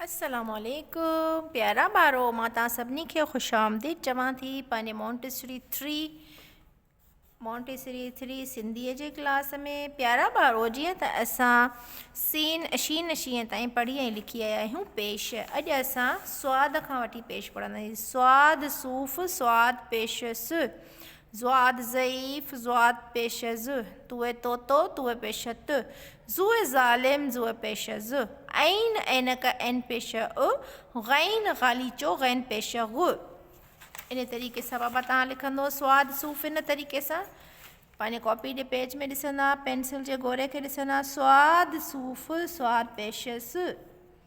السلام عليڪم پيارا ٻارو مان توهان سڀني کي خوش آمديد چوان ٿي پنهنجي Montessori three Montessori three Sindhi جي ڪلاس ۾ پيارا ٻارو جيئن ته اسان سين اشين شين تائين پڙهي ۽ لکي آيا آهيون پيش اڄ اسان سواد کان وٺي پيش پڙهنداسين سواد صوف سواد پيش س زواد ضعيف زواد پيش از توء طوطو توء پيش ات زوء ظالم زوء پيش از عين عينڪ عين پيش اء غين غاليچو غين پيش غ. انهيء طريقي سان بابا تهان لکندو سواد صوف ان طريقي سان پنهنجي ڪاپي جي پيج ۾ ڏسندا پينسل جي گوري کي ڏسندا سواد صوف سواد پيش از.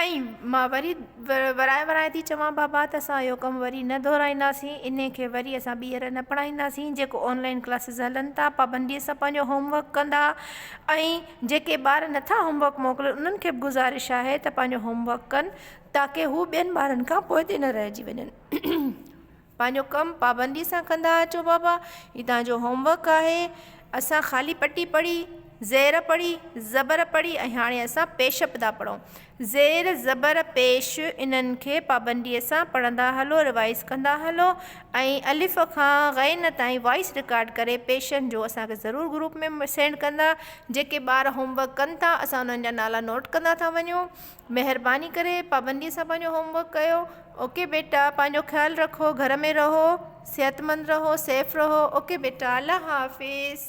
۽ مان وري ورائي ورائي ٿي چوان بابا ته اسان اهو ڪم وري نه دهرائينداسين انهي کي وري اسان ٻيهر نه پڙهائينداسين جيڪو آن لائين ڪلاسز هلن ٿا پابندي سان پنهنجو هوم ورڪ ڪندا ۽ جيڪي ٻار نٿا هوم ورڪ موڪلن انهن کي به گذارش آهي ته پنهنجو هوم ورڪ ڪن تاڪه هو ٻين ٻارن کان پوئتي نه رهجي وڃن. پنهنجو ڪم پابندي سان ڪندا اچو بابا هي توهان جو هوم ورڪ آهي اسان خالي پٽي پڙهي زير پڙهي زبر پڙهي ۽ هاڻي اسان پيش به ٿا پڙهون زير زبر پيش انهن کي پابندي سان پڙهندا هلو ريوائيز ڪندا هلو ۽ الف کان غين تائين وائيس رڪارڊ ڪري پيشن جو اسان کي ضرور گروپ ۾ سينڊ ڪندا جيڪي ٻار هوم ورڪ ڪن ٿا اسان انهن جا نالا نوٽ ڪندا ٿا وڃون. مهرباني ڪري پابندي سان پنهنجو هوم ورڪ ڪيو اوڪي بيٽا پنهنجو خيال رکو گهر ۾ رهو صحت مند رهو سيف رهو اوڪي بيٽا الله حافظ.